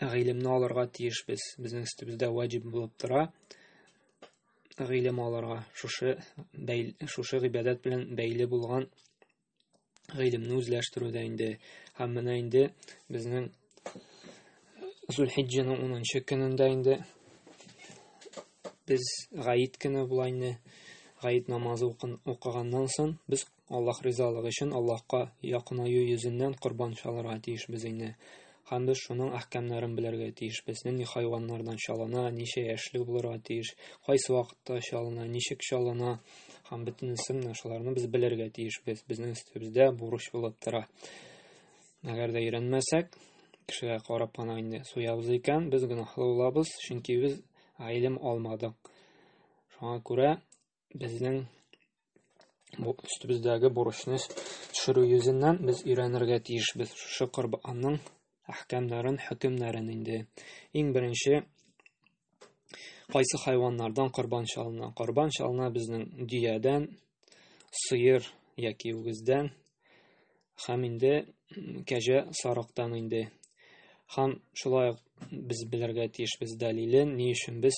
гыйлемне алырга тиешбез. Безнең өстебездә ваҗиб булып тора гыйлем алырга, шушы бәйл, шушы гыйбадәт белән бәйле булган гыйлемне үзләштерүдә инде. Һәм менә инде безнең Зулхиджәнең 10 көнендә инде без гаит көне була инде. Гаит намазы укыганнан соң без Аллаһ ризалыгы өчен Аллаһка якынаю йөзеннән корбан чалырга тиешбез инде. Һәм без шуның әхкәмнәрен белергә тиешбез. Нинди хайваннардан чалына, ничә яшьлек булырга тиеш, кайсы вакытта чалына, ничек чалына һәм бөтенесен менә шуларны без белергә тиешбез. Безнең өстебездә бурыч булып тора. Әгәр дә өйрәнмәсәк, кешегә карап кына инде суябыз икән, без гөнаһлы булабыз, чөнки без гыйлем алмадык. Шуңа күрә безнең бу өстебездәге бурычны төшерү йөзеннән без өйрәнергә тиешбез шушы корбанның әхкәмнәрен хөкемнәрен инде иң беренче кайсы хайваннардан корбан чалына корбан чалына безнең дөядән сыер яки үгездән Хәм инде кәҗә сарыктан инде. Хәм шулай без белергә тиеш без дәлилен, ни өчен без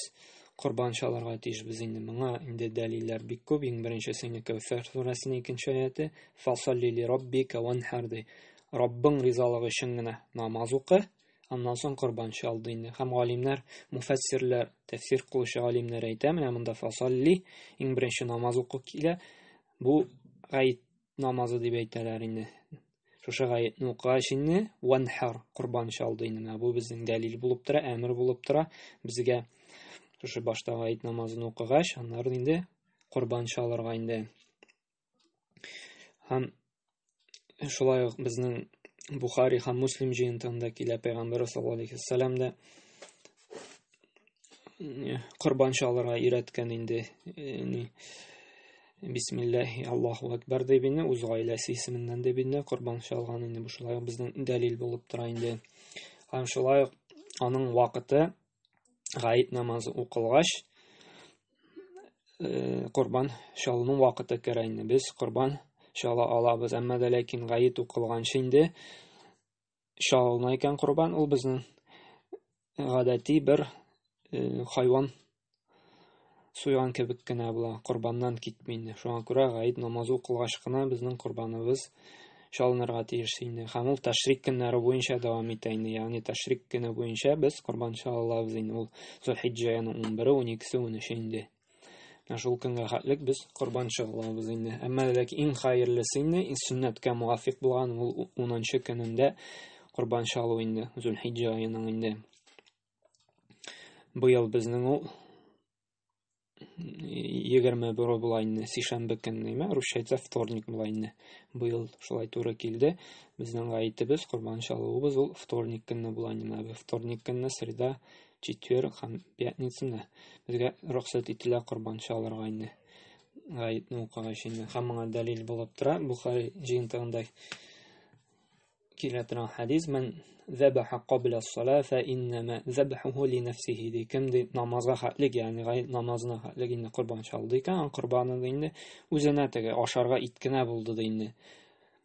корбан чаларга тиеш без инде. Моңа инде дәлилләр бик күп. Иң беренче сыйны Кәүсәр сүрәсенең икенче аяты. Фасалли ли рабби кәван хәрди. Раббың ризалыгы өчен генә намаз укы, аннан соң корбан чал ди инде. Хәм галимнәр, муфәссирләр, тәфсир кылучы галимнәр әйтә, менә монда фасалли, иң беренче намаз уку килә. Бу гаит намазы дип әйтәләр инде. Шушы гаетне укыгач инде ванхар корбан чалды инде. Менә бу безнең дәлил булып тора, әмер булып тора. Безгә шушы башта гаит намазын укыгач, аннары инде корбан чалырга инде. Һәм шулай ук безнең Бухари һәм Муслим җыентыгында килә пәйгамбәр саллаллаһу алейхи ва саллям да корбан чалырга өйрәткән инде ни бисмиллахи аллаху әкбәр дип инде үз гаиләсе исеменнән дип инде корбан чалган инде бу шулай ук безнең дәлил булып тора инде һәм шулай ук аның вакыты гаит намазы укылгач корбан чалуның вакыты керә инде без корбан чала алабыз әмма дә ләкин гаит укылганчы инде чалына икән корбан, ул безнең гадәти бер э, хайван суйган кебек кенә була, корбаннан китми инде. Шуңа күрә гаид намазы укылгач кына безнең корбаныбыз чалынырга тиеш инде. Һәм ул тәшрик көннәре буенча дәвам итә инде. Ягъни тәшрик көне буенча без корбан чалабыз инде. Ул Зулхиҗҗәнең 11-е, 12-се, 13-е инде. Ә шул көнгә хәтлек без корбан чыгылабыз инде. Әмма ләкин иң хәерлесе инде, иң сөннәткә мувафик булган ул 10-нчы көнендә корбан чалу инде, Зулхиҗҗа аеның инде. Быел безнең ул 21 була инде, сишәмбе көн нәмә, русча әйтсә вторник була инде. Быел шулай туры килде. Безнең гаетебез, корбан чалуыбыз ул вторник көнне була инде. Вторник көнне среда четверг һәм пятницаны безгә рөхсәт ителә корбан чалырга инде гаетне укыгач инде һәм моңа дәлил булып тора бухари җыентыгында килә торган хәдис мен зәбәха кабля сала фә иннәмә зәбәхуху ли нәфсихи ди кем ди намазга хәтлек ягъни гает намазына хәтлек инде корбан чалды икән аның корбаны инде үзенә теге ашарга ит кенә булды ди инде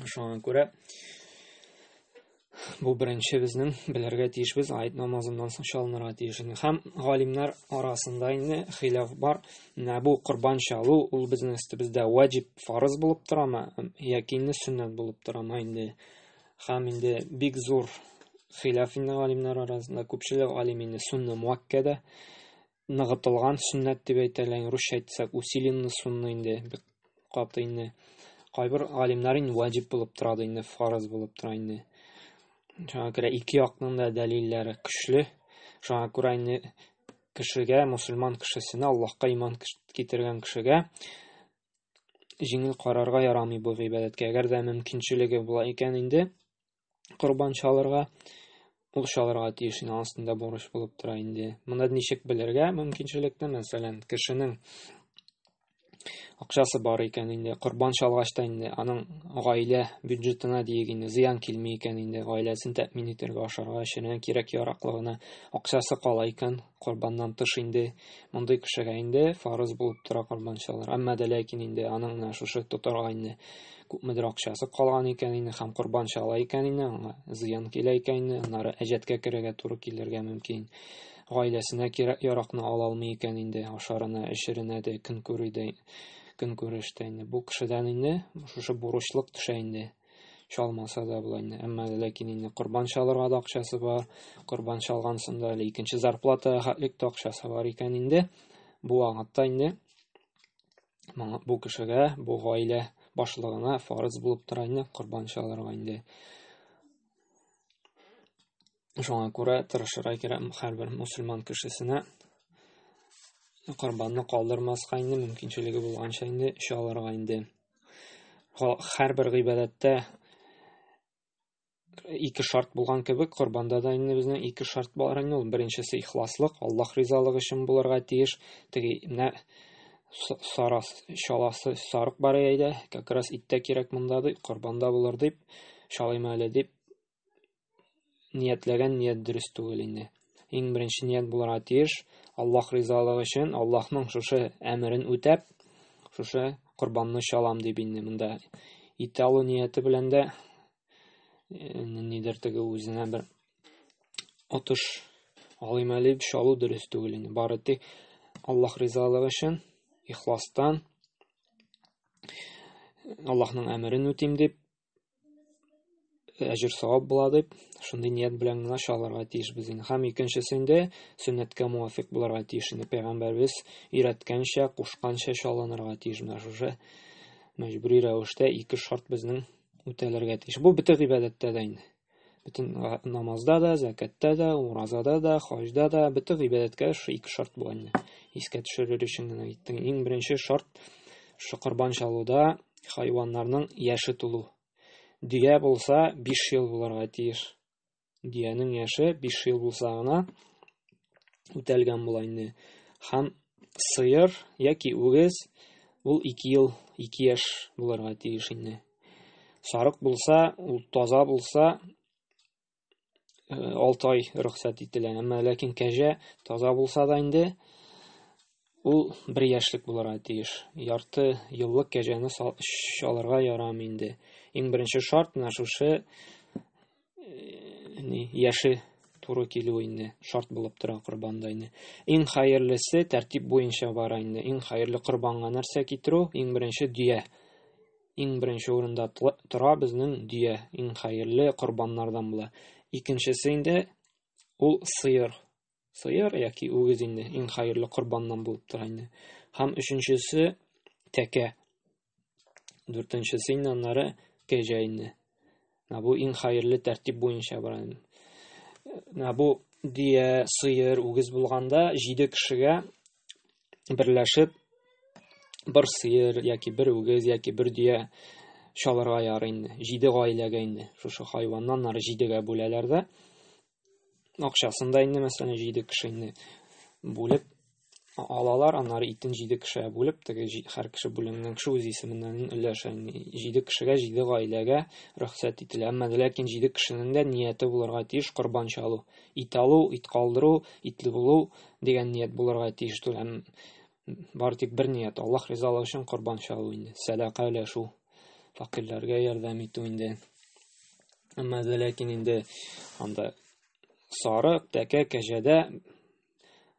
Шуңа күрә бу беренче безнең белергә тиешбез аят намазыннан соң чалынырга тиеш инде һәм галимнәр арасында инде хилаф бар менә бу корбан чалу ул безнең өстебездә ваҗиб фарыз булып торамы яки инде сөннәт булып торамы инде һәм инде бик зур хилаф инде галимнәр арасында күпчелек галим инде сунна муаккәдә ныгытылган сөннәт дип әйтә әле, русча әйтсәк, усиленный сунны инде, бик каты инде. Кайбер галимнәр инде ваҗиб булып тора да инде, фарыз булып тора инде. Шуңа күрә ике якның да дәлилләре көчле. Шуңа күрә инде кешегә, мусульман кешесенә, Аллаһка иман китергән кешегә җиңел карарга ярамый бу гыйбадәткә. Әгәр дә мөмкинчелеге була икән инде, корбан чалырга, ул чалырга тиеш инде, анысын да бурыч булып тора инде. Моны ничек белергә мөмкинчелекне, мәсәлән, кешенең акчасы бар икән инде, корбан чалгач та инде аның гаилә бюджетына диек инде зыян килми икән инде, гаиләсен тәэмин итәргә, ашарга, эчәргә кирәк-яраклыгына акчасы кала икән, корбаннан тыш инде мондый кешегә инде фарыз булып тора корбан чалыр. Әмма дә ләкин инде аның менә шушы тотарга инде күпмедер акчасы калган икән инде һәм корбан чала икән инде аңа зыян килә икән инде аннары әҗәткә керергә туры килергә мөмкин. Гаиләсенә кирәк яракны ала алмый икән инде ашарына, эшеренә дә, көн күрүдә, көн күрештә инде. Бу кешедән инде шушы бурычлык төшә инде. чалмаса да була инде әмма ләкин инде корбан чалырга да акчасы бар корбан чалган сында әле икенче зарплата хәтлек тә акчасы бар икән инде бу вакытта инде моңа бу кешегә бу гаилә башлыгына фарыз булып тора инде корбан чалырга инде Шуңа күрә тырышырга кирәк һәрбер мусульман кешесенә корбанны калдырмаска инде мөмкинчелеге булганча инде чалырга инде. Һәрбер гыйбадәттә ике шарт булган кебек, корбанда да инде безнең ике шарт бар инде. Ул беренчесе ихласлык, Аллаһ ризалыгы өчен булырга тиеш. Теге менә сарас шаласы сарык бар иде, как раз иттә кирәк монда дип, корбанда булыр дип, шалыйм әле дип ниятләгән ният дөрес түгел инде. Иң беренче ният булырга тиеш, Аллаһ ризалыгы өчен, Аллаһның шушы әмерен үтәп, шушы корбанны чалам дип инде монда ит алу нияте белән дә э, нидер теге үзенә бер отыш алыйм әле дип чалу дөрес түгел инде. Бары тик Аллаһ ризалыгы өчен ихластан Аллаһның әмерен үтим дип әҗер савап була дип шундый ният белән генә чалырга тиешбез инде һәм икенчесендә сөннәткә муафик булырга тиеш инде пәйгамбәрбез өйрәткәнчә кушканча чалынырга тиеш менә шушы мәҗбүри рәвештә ике шарт безнең үтәлергә тиеш бу бөтен гыйбадәттә дә инде Бөтен намазда да, зәкәттә дә, уразада да, хаҗда да, бөтен гыйбадәткә шул ике шарт бу инде. Искә төшерер өчен генә әйттем. Иң беренче шарт шул корбан чалуда хайваннарның яше тулу. Дөя булса 5 ел булырга тиеш. Дөянең яше 5 ел булса гына үтәлгән була инде. Һәм сыер яки үгез ул 2 ел, 2 яшь булырга тиеш инде. Сарык булса, ул таза булса, 6 э, ай рөхсәт ителә. Әмма ләкин кәҗә таза булса да инде ул бер яшьлек булырга тиеш. Ярты еллык кәҗәне алырга ярамый инде. Иң беренче шарт менә шушы ни яше туры килү инде шарт булып тора корбанда инде иң хәерлесе тәртип буенча бара инде иң хәерле корбанга нәрсә китерү иң беренче дөя иң беренче урында тора безнең дөя иң хәерле корбаннардан була икенчесе инде ул сыер сыер яки үгез инде иң хәерле корбаннан булып тора инде. Һәм өченчесе тәкә. Дүртенчесе инде аннары кәҗә инде. Менә бу иң хәерле тәртип буенча бара инде. Менә бу дөя, сыер, үгез булганда 7 кешегә берләшеп бер сыер яки бер үгез яки бер дөя чалырга ярый инде. 7 гаиләгә инде. Шушы хайваннан ары 7гә бүләләр дә. акчасын да инде мәсәлән җиде кеше инде бүлеп алалар аннары итен җиде кешегә бүлеп теге һәр кеше бүленгән кеше үз исеменнән өләшә җиде кешегә җиде гаиләгә рөхсәт ителә әмма ләкин җиде кешенең дә нияте булырга тиеш корбан чалу ит алу ит калдыру итле булу дигән ният булырга тиеш түләм бары тик бер ният, Аллаһ ризалыгы өчен корбан чалу инде, сәдака өләшү, фәкыйрьләргә ярдәм итү инде. Әмма ләкин инде анда сарык, тәкә, кәҗәдә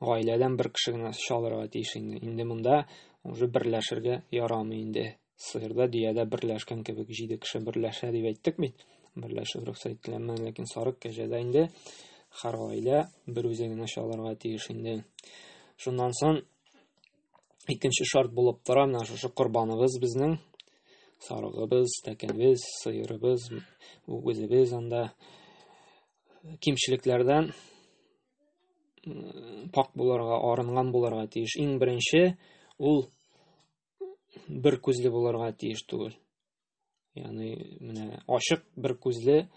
гаиләдән бер кеше генә чалырга тиеш инде. Инде монда уже берләшергә ярамый инде. сыерда дөядә берләшкән кебек җиде кеше берләшә дип әйттек бит берләшү рөхсәт ителгәнмен ләкин сарык кәҗәдә инде һәр гаилә бер үзе генә чалырга тиеш инде шуннан соң икенче шарт булып тора менә шушы корбаныбыз безнең сарыгыбыз тәкәбез сыерыбыз үгезебез анда кимчелекләрдән пак булырга арынган булырга тиеш иң беренче ул бер күзле булырга тиеш түгел. Яны менә ашык бер күзле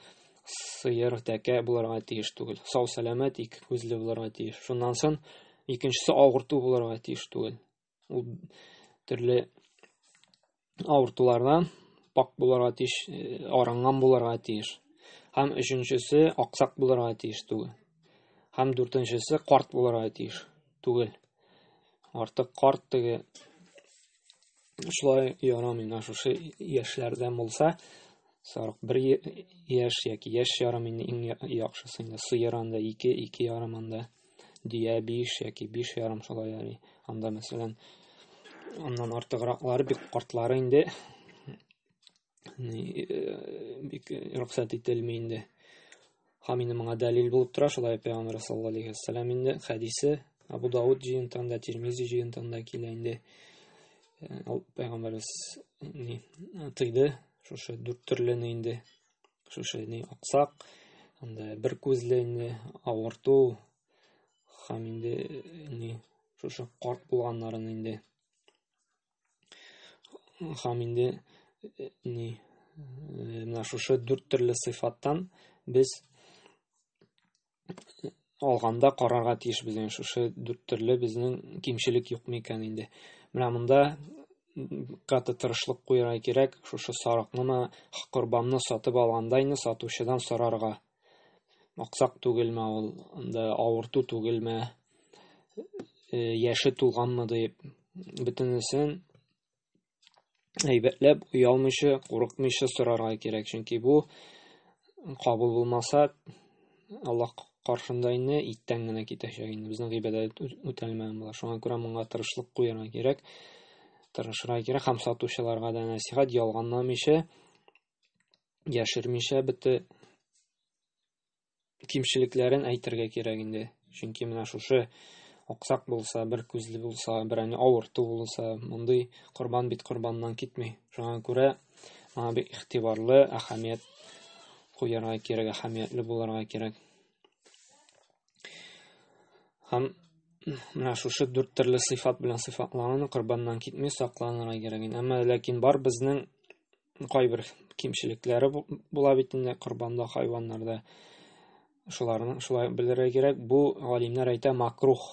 сыер тәкә булырга тиеш түгел. Сау сәламәт ике күзле булырга тиеш. Шуннан сон икенчесе авырту булырга тиеш түгел. Ул төрле авыртулардан пак булырга тиеш, э, арынган булырга тиеш. Һәм өченчесе аксак булырга тиеш түгел. Һәм дүртенчесе карт булырга тиеш түгел. Артык карт теге шулай ярамый, менә шушы яшьләрдән булса, сарык бер яшь яки яшь ярым инде иң яхшысы инде сыер анда ике, ике ярым анда дөя биш яки биш ярым шулай яри. Анда мәсәлән аннан артыграклары бик картлары инде бик рөхсәт ителми инде һәм инде моңа дәлил булып тора шулай пәйгамбәр саллаллаху алейхи вәссәлам инде хәдисе абу дауд җыентында тирмизи җыентында килә инде ул пәйгамбәрбез ни тыйды шушы дүрт төрлене инде шушы ни аксак анда бер күзле инде авырту һәм инде ни шушы карт булганнарын инде һәм инде э, ни э, менә шушы дүрт төрле сыйфаттан без э, алганда карарга тиеш безнең шушы дүрт төрле безнең кимчелек юкмы икән инде менә монда каты тырышлык куярга кирәк шушы сарыкнымы корбанны сатып алгандайны сатучыдан сорарга Аксак түгелме ул, анда авырту түгелме, э, яше тулганмы дип, бөтенесен әйбәтләп, оялмыйча, курыкмыйча сорарга кирәк. Чөнки бу кабул булмаса, Аллаһ каршында инде иттән генә китәчәк инде. Безнең гыйбадәт үтәлмәгән була. Шуңа күрә моңа тырышлык куярга кирәк. Тырышырга кирәк һәм сатучыларга да нәсихәт ялганламыйча яшермичә бите кимчелекләрен әйтергә кирәк инде. Чөнки менә шушы аксак булса, бер күзле булса, берәне авырту булса, мондый корбан бит корбаннан китми. Шуңа күрә моңа бик игътибарлы, әһәмият куярга кирәк, әһәмиятле булырга кирәк. Һәм менә шушы дүрт төрле сыйфат белән сыйфатланган корбаннан китми сакланырга кирәк. Әмма ләкин бар безнең кайбер кимчелекләре була бит инде корбанда хайваннарда шуларны шулай белергә кирәк бу галимнәр әйтә макрух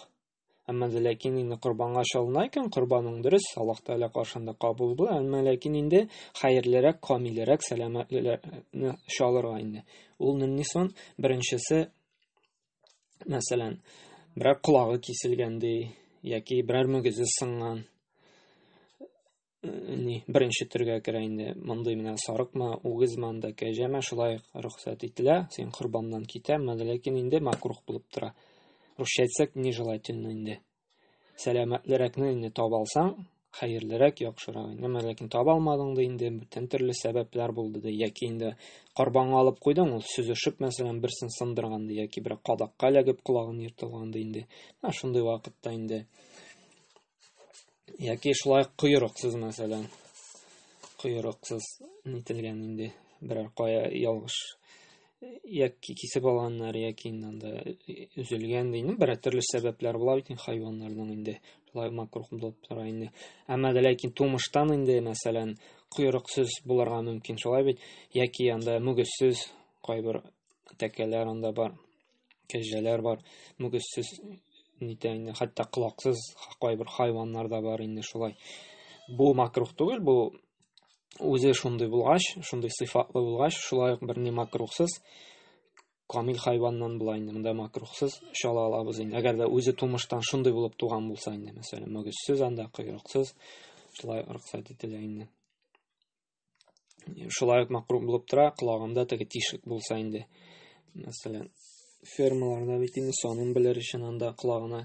әмма ләкин инде корбанга чалына икән корбаның дөрес аллаһ тәала каршында кабул була әмма ләкин инде хәерлерәк камилерәк сәламәтлеләрне чалырга инде ул нинди сон беренчесе мәсәлән берәр колагы киселгән ди яки берәр мөгезе сынган ни беренче төргә керә инде мондый менә сарыкмы үгезме анда кәҗәме шулай рөхсәт ителә син корбаннан китәме ләкин инде макрух булып тора русча әйтсәк нежелательно инде сәламәтлерәкне инде таба алсаң хәерлерәк яхшырак инде әмма ләкин таба алмадың да инде бүтән төрле сәбәпләр булды да яки инде корбанга алып куйдың ул сөзешеп мәсәлән берсен сындырган да яки бер кадакка эләгеп колагын ертылган да инде менә шундый вакытта инде Яки шулай койрыксыз, мәсәлән. Койрыксыз нителгән инде берәр кая ялгыш яки кисеп алганнар, яки инде анда өзелгән дигән бер төрле сәбәпләр була бит инде хайваннарның инде. Шулай макрух булып тора инде. Әмма дә ләкин тумыштан инде, мәсәлән, койрыксыз булырга мөмкин, шулай бит? Яки анда мөгезсез кайбер тәкәләр анда бар. кәҗәләр бар, мөгезсез нитә инде, хәтта колаксыз кайбер хайваннар да бар инде шулай. Бу макрух түгел, бу үзе шундый булгач, шундый сыйфатлы булгач, шулай ук берни макрухсыз камил хайваннан була инде монда макрухсыз чала алабыз инде. Әгәр дә үзе тумыштан шундый булып туган булса инде, мәсәлән, мөгезсез анда, койрыксыз, шулай рөхсәт ителә инде. шулай ук макрум булып тора, колагында теге тишек булса инде. Мәсәлән, фермаларда бит инде санын белер өчен анда колагына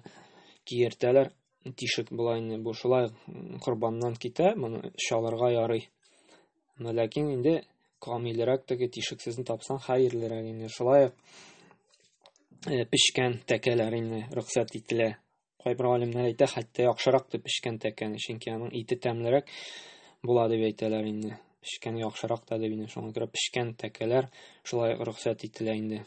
киертәләр, тишек була инде. Бу шулай корбаннан китә, моны чалырга ярый. Но ләкин инде камилрәк теге тишексезне тапсаң хәерлерәк инде. Шулай ук э, пешкән тәкәләр инде рөхсәт ителә. Кайбер галимнәр әйтә, хәтта яхшырак дип пешкән тәкәне, чөнки аның ите тәмлерәк була дип әйтәләр инде. Пешкән яхшырак та дип инде. Шуңа күрә пешкән тәкәләр шулай рөхсәт ителә инде.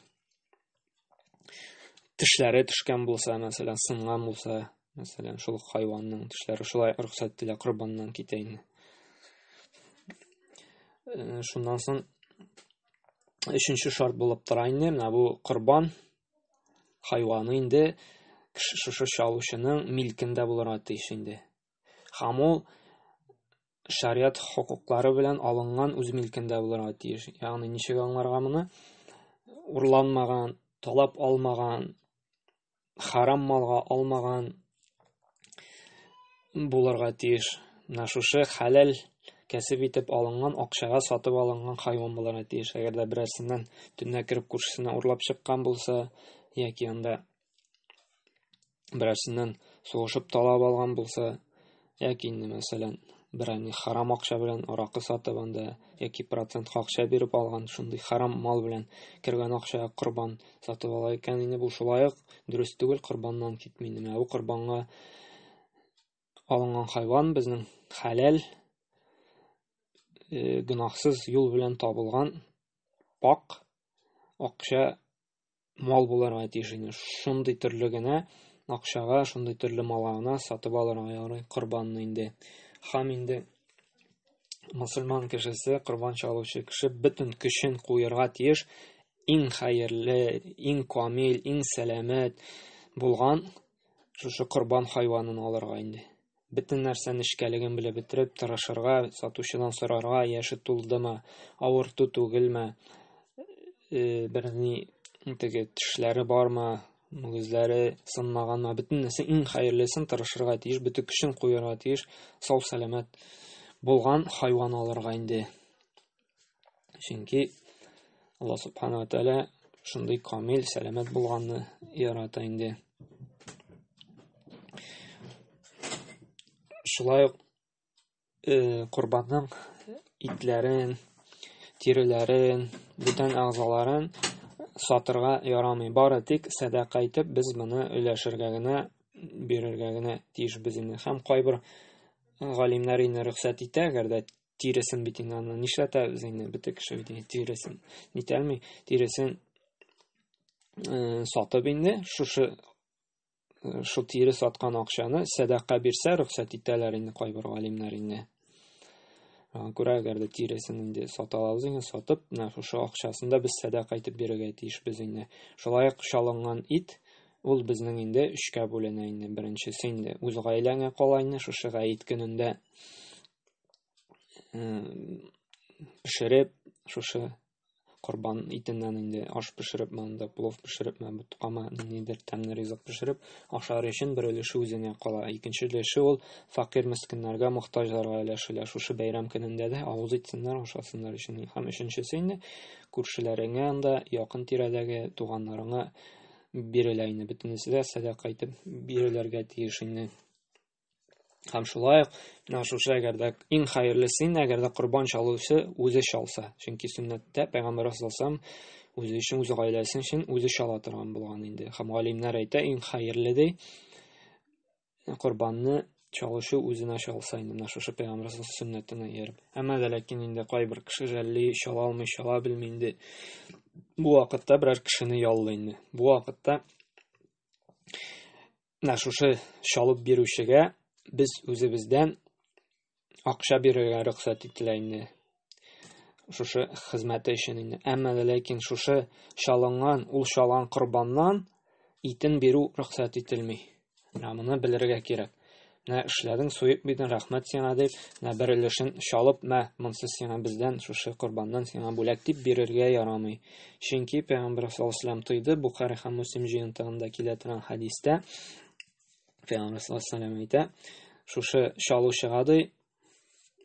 Тешләре төшкән булса, мәсәлән, сынган булса, мәсәлән, шул хайванның тешләре шулай рөхсәт ителә корбаннан китә инде. Э, шуннан соң өченче шарт булып тора инде, менә бу корбан Хайваны инде кеше шушы чалучының милкендә булырга тиеш инде. Һәм ул шариат хокуклары белән алынган үз милкендә булырга тиеш. Ягъни ничек аңларга моны? Урланмаган, талап алмаган, харам малга алмаган булырга тиеш. Менә шушы хәләл кәсеп итеп алынган акчага сатып алынган хайван булырга тиеш. Әгәр дә берәрсеннән төнлә кереп күршесенә урлап чыккан булса, яки анда берәрсеннән сугышып талап алган булса, Яки инде, мәсәлән, берәни харам акча белән аракы сатып анда яки процент акча биреп алган шундый харам мал белән кергән акча корбан сатып ала икән инде бу шулай ук дөрес түгел корбаннан китми менә бу корбанга алынган хайван безнең хәләл э, гөнаһсыз юл белән табылган пак акча мал булырга тиеш инде. Шундый төрле генә акчага, шундый төрле малына сатып алырга ярый корбанны инде. Хам инде мусульман кешесе, корбан чалучы кеше бөтен көчен куярга тиеш иң хәерле, иң камил, иң сәламәт булган шушы корбан хайванын алырга инде. Бөтен нәрсә нечкәлеген белеп бетереп, тырышырга, сатучыдан сорарга, яше тулдымы, авырту түгелме, э, берни теге тешләре бармы, мөгезләре сынмаганмы, бөтен нәрсә иң хәерлесен тырышырга тиеш, бөтен көчен куярга тиеш, сау-сәламәт булган хайван алырга инде. Чөнки Алла субхана тәлә шундый камил, сәламәт булганны ярата инде. Шулай ук э, корбанның итләрен, тиреләрен, бүтән әгъзаларын сатырга ярамый. Бары тик сәдака итеп без моны өләшергә генә, бирергә генә тиеш без инде. Һәм кайбер галимнәр инде рөхсәт итә, әгәр дә тиресен бит инде аны нишләтәбез инде бөтен кеше бит инде тиресен нитәлми тиресен э, сатып инде шушы э, шул тире саткан акчаны сәдака бирсә рөхсәт итәләр инде кайбер галимнәр инде аңа күрә әгәр дә тиресен инде сата алабыз икән сатып менә шушы акчасын да без сәдака итеп бирергә тиешбез инде шулай ук чалынган ит ул безнең инде өчкә бүленә инде беренчесе инде үз гаиләңә кала инде шушы гаит көнендә пешереп шушы корбан итеннән инде аш пешереп монда плов пешереп мә тоткама ниндидер тәмле ризык пешереп ашар өчен бер өлеше үзенә кала икенче өлеше ул факир мескеннәргә мохтаҗларга өләшелә шушы бәйрәм көнендә дә авыз итсеннәр ашасыннар өчен һәм өченчесе инде күршеләреңә анда якын тирәдәге туганнарыңа бирелә инде бөтенесе дә сәдака итеп бирелергә тиеш инде Һәм шулай ук менә шушы әгәр дә иң хәерле син, әгәр дә корбан чалучы үзе чалса. Чөнки сөннәттә пәйгамбәр саллаллаху үзе өчен, үз гаиләсе өчен үзе чала торган булган инде. Һәм галимнәр әйтә, иң хәерле ди корбанны чалучы үзенә чалса инде менә шушы пәйгамбәр сөннәтенә ияреп. Әмма дә ләкин инде кайбер кеше жәлли чала алмый, чала белми инде. Бу вакытта берәр кешене яллый инде. Бу вакытта менә шушы чалып бирүчегә без үзебездән акча бирергә рөхсәт ителә инде шушы хезмәте өчен инде әмма ләкин шушы чалынган ул чалган корбаннан итен бирү рөхсәт ителми менә моны белергә кирәк менә эшләдең суеп бирдең рәхмәт сиңа дип менә бер өлешен чалып мә монсы сиңа бездән шушы корбаннан сиңа бүләк дип бирергә ярамый Чөнки пәйгамбәр саллаллаху тойды, Бухари һәм Муслим җыентыгында килә торган хадистә пәйгамбәр саллаллаху әйтә, шушы чалучыга ди,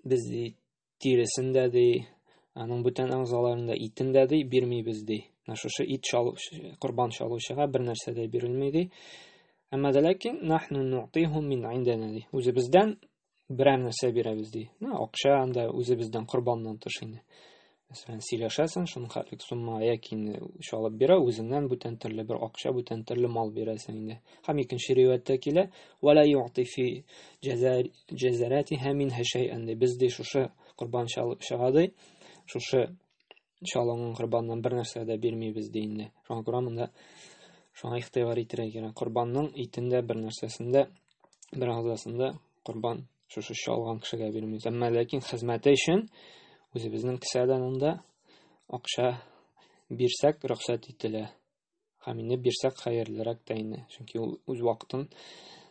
без ди тиресен дә ди, аның бүтән әгъзаларын да итен дә ди бирмибез ди. Менә шушы ит чалу, корбан чалучыга бер нәрсә дә бирелми ди. Әмма дә ләкин нахну ну'тихум мин индәнә ди. Үзебездән берәр нәрсә бирәбез ди ну акча анда үзебездән корбаннан тыш инде мәсәлән сөйләшәсең шуның хәтлек сумма яки инде чалып бирә үзеңнән бүтән төрле бер акча бүтән төрле мал бирәсең инде һәм икенче ривәяттә килә вәлә юатифи җәзәрәтиһә минһә шәйән ди без ди шушы корбан чыгады шушы Иншалла аңа корбаннан бер нәрсә дә бирмибез ди инде. Шуңа күрә монда шуңа игътибар итәргә кирәк. Корбанның итендә бер нәрсәсендә, бер агзасында корбан шушы чалган кешегә бирмибез. Әмма ләкин хезмәте өчен үзебезнең кесәдән анда акча бирсәк рөхсәт ителә. Хамине бирсәк хәерлерәк тә инде, чөнки ул үз вакытын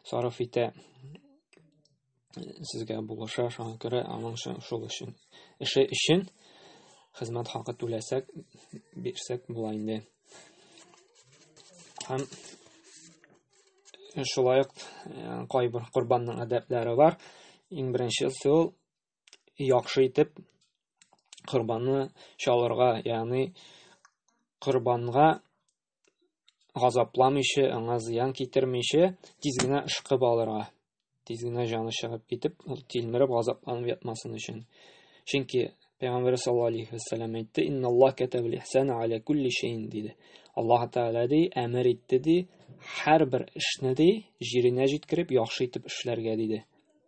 сарыф итә, сезгә булыша, шуңа күрә аның шул өчен эше өчен хезмәт хакы түләсәк, бирсәк була инде. Һәм шулай ук э, кайбер корбанның әдәпләре бар. Иң беренче сул яхшы итеп корбанны чалырга, ягъни корбанга газапламыйча, аңа зыян китермичә, тиз генә ышкып алырга. Тиз генә җаны чыгып китеп, ул тилмереп газапланып ятмасын өчен. Чөнки Пәйгамбәр саллаллаһу алейхи ва саллям әйтте: "Инна Аллаһ катабал ихсана аля кулли шейн" диде. Аллаһ Тәгалә ди, әмер итте ди, һәрбер эшне ди, җиренә җиткереп, яхшы итеп эшләргә диде.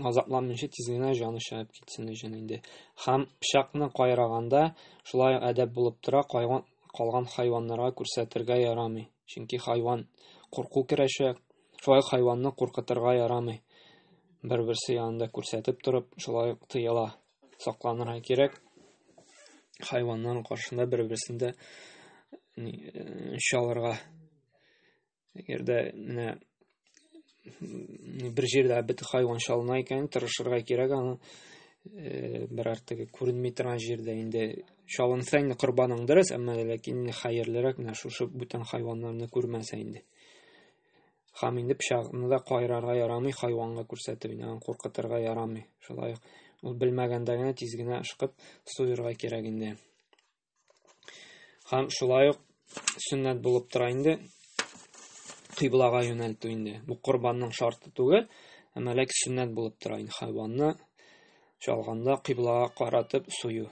азапланмыйча тиз генә җаны чыгып китсен өчен инде. Хәм пычакны кайраганда шулай әдәп булып тора, кайган, калган хайваннарга күрсәтергә ярамый. Чөнки хайван курку керәшә, шулай хайванны куркытырга ярамый. Бер-берсе янында күрсәтеп торып, шулай тыела. Сакланырга кирәк. Хайваннар каршында бер-берсендә чалырга Әгәр дә менә бер җирдә бит хайван чалына икән, тырышырга кирәк аны э, берәр теге күренми торган җирдә инде чалынса инде корбаның дөрес, әмма ләкин инде хәерлерәк менә шушы бүтән хайваннарны күрмәсә инде. Хам инде пычагны да кайрарга ярамый, хайванга күрсәтеп инде аны куркытырга ярамый. Шулай ук ул белмәгәндә генә тиз генә ышкып суырырга кирәк инде. Хәм шулай ук сөннәт булып тора инде кыйблага юнәлтү инде. Бу корбанның шарты түгел, әмма ләкин сөннәт булып тора инде хайванны чалганда кыйблага каратып сую.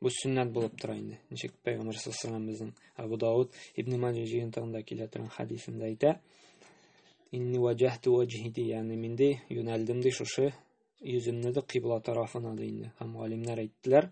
Бу сөннәт булып тора инде. Ничек Пәйгамбәр саллаллаху алейһи Абу Дауд Ибн Маҗа җыентыгында килә торган хәдисендә әйтә: "Инни ваҗахту ваҗхи" ди, ягъни мин ди юнәлдем ди шушы йөземне дә кыйбла тарафына ди инде. Һәм галимнәр әйттеләр: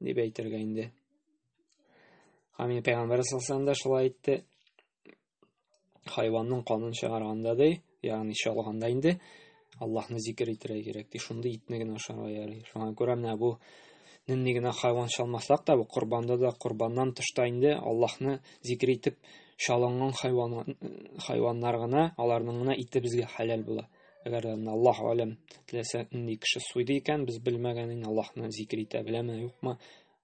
дип әйтергә инде. Хамин пәйгамбәр саллаллаху да шулай әйтте. Хайванның канын чыгарганда ди, ягъни чалганда инде Аллаһны зикр итәргә кирәк ди. Шунда итне генә ашарга ярый. Шуңа күрә менә бу нинди генә хайван чалмасак та, бу корбанда да, корбаннан тышта инде Аллаһны зикр итеп чалынган хайван хайваннар гына, аларның гына ите безгә хәләл була. Әгәр дә Аллаһ алем теләсә нинди кеше суйды икән, без белмәгәнен Аллаһны зикер итә беләме, юкмы,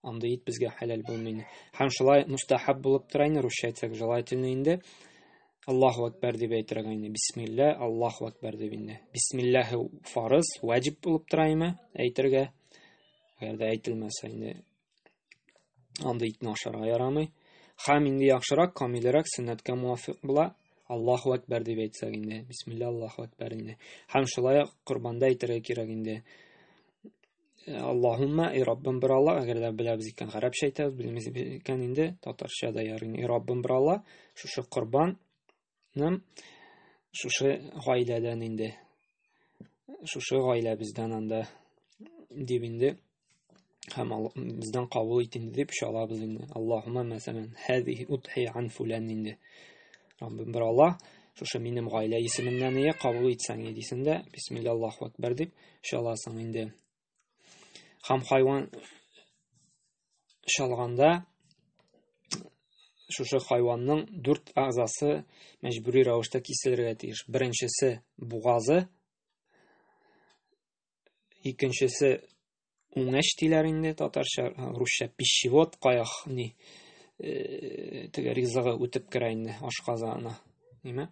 андый ит безгә хәләл булмый. Һәм шулай мустахаб булып тора инде, русча әйтсәк, желательно инде. Аллаһу акбар дип әйтергә инде. Бисмилла, Аллаһу акбар дип инде. Бисмиллаһи фарыз, ваҗиб булып тора име әйтергә. Әгәр дә әйтелмәсә инде Андый итне ашарга ярамый. Хам инде яхшырак, камилерәк, сөннәткә муафик була. Аллаху әкбәр дип әйтсәк инде. Бисмилла Аллаху әкбәр инде. Хам шулай ук корбанда әйтергә кирәк инде. Аллаһумма, и Раббым бер Алла, әгәр дә беләбез икән, гарәпчә әйтәбез, белмибез икән инде, татарча да ярый. И Раббым бер Алла, шушы корбан Нәм шушы гаиләдән инде. Шушы гаилә бездән анда дип инде һәм бездән кабул ит инде дип чалабыз инде. Аллаһумма мәсәлән, хәзихи утхи ан фулан инде. Раббим бер Аллаһ, шушы минем гаилә исеменнән ие кабул итсәң идисендә, бисмиллаллаһу акбар дип чаласың инде. һәм хайван чалганда шушы хайванның дүрт әгъзасы мәҗбүри рәвештә киселергә тиеш. Беренчесе бугазы, икенчесе уңеш диләр инде татарча, русча пищевод каяхни э, теге ризыгы үтеп керә инде ашказаны. Нимә?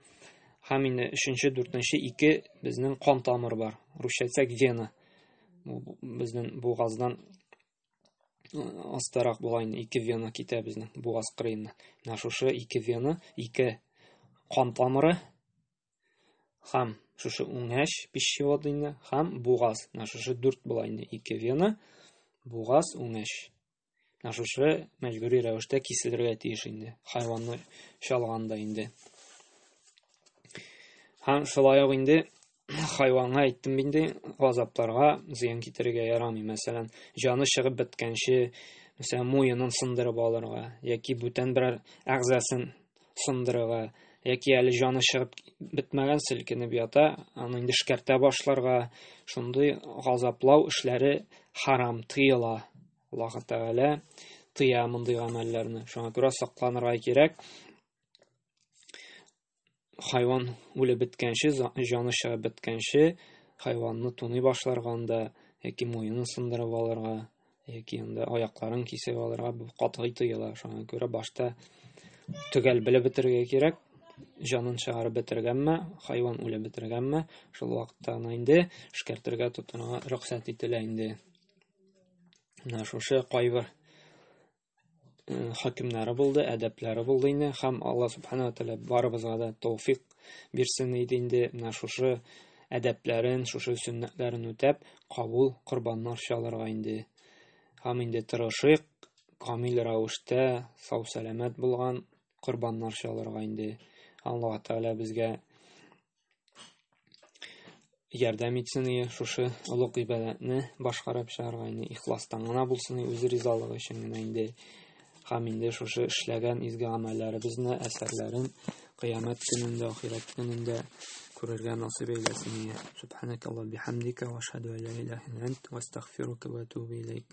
Һәм инде өченче, дүртенче ике безнең кан тамыр бар. Русча әйтсәк вена. Безнең бугаздан э, астарак була инде ике вена китә безнең бугаз кырыеннан. Менә шушы ике вена, ике кан тамыры һәм шушы уңәш пищевод инде һәм бугаз. Менә шушы дүрт була инде ике вена, бугаз, уңәш. Ә шушы мәҗбүри рәвештә киселергә тиеш инде. Хайванны чалганда инде. Һәм шулай ук инде хайванга әйттем инде, газапларга зыян китерергә ярамый. Мәсәлән, җаны чыгып беткәнче, мәсәлән, муенын сындырып алырга яки бүтән берәр әгъзасын сындырырга яки әле җаны чыгып бетмәгән селкенеп ята, аны инде шкәртә башларга, шундый газаплау эшләре харам, тыела. Аллаһ Тәгалә тыя мондый гамәлләрне. Шуңа күрә сакланырга кирәк. Хайван үлеп беткәнче, җаны чыгып беткәнче, хайванны туный башларганда яки муенын сындырып алырга яки инде аякларын кисеп алырга бу катгый тыела. Шуңа күрә башта төгәл белеп бетерергә кирәк. Җанын чыгарып бетергәнме, хайван үлеп бетергәнме, шул вакытта аны инде шкертергә тотынырга рөхсәт ителә инде. Менә шушы кайбер хакимнары булды, әдәпләре булды инде һәм Алла субхана тәгалә барыбызга да тауфик бирсен иде инде менә шушы әдәпләрен, шушы сөннәтләрен үтәп, кабул корбаннар чалырга инде. Һәм инде тырышыйк, камил рәвештә сау сәламәт булган корбаннар чалырга инде. Алла Тәгалә безгә ярдәм итсен и шушы олуг гыйбадәтне башкарып чыгарга инде ихластан гына булсын и үзе ризалыгы өчен генә инде һәм инде шушы эшләгән изге гамәлләребезне әсәрләрен кыямәт көнендә ахирәт көнендә күрергә насыйп әйләсен и субханәк алла бихамдика ва ашһаду ла илаһа илля ант ва астагфирука ва атубу илейк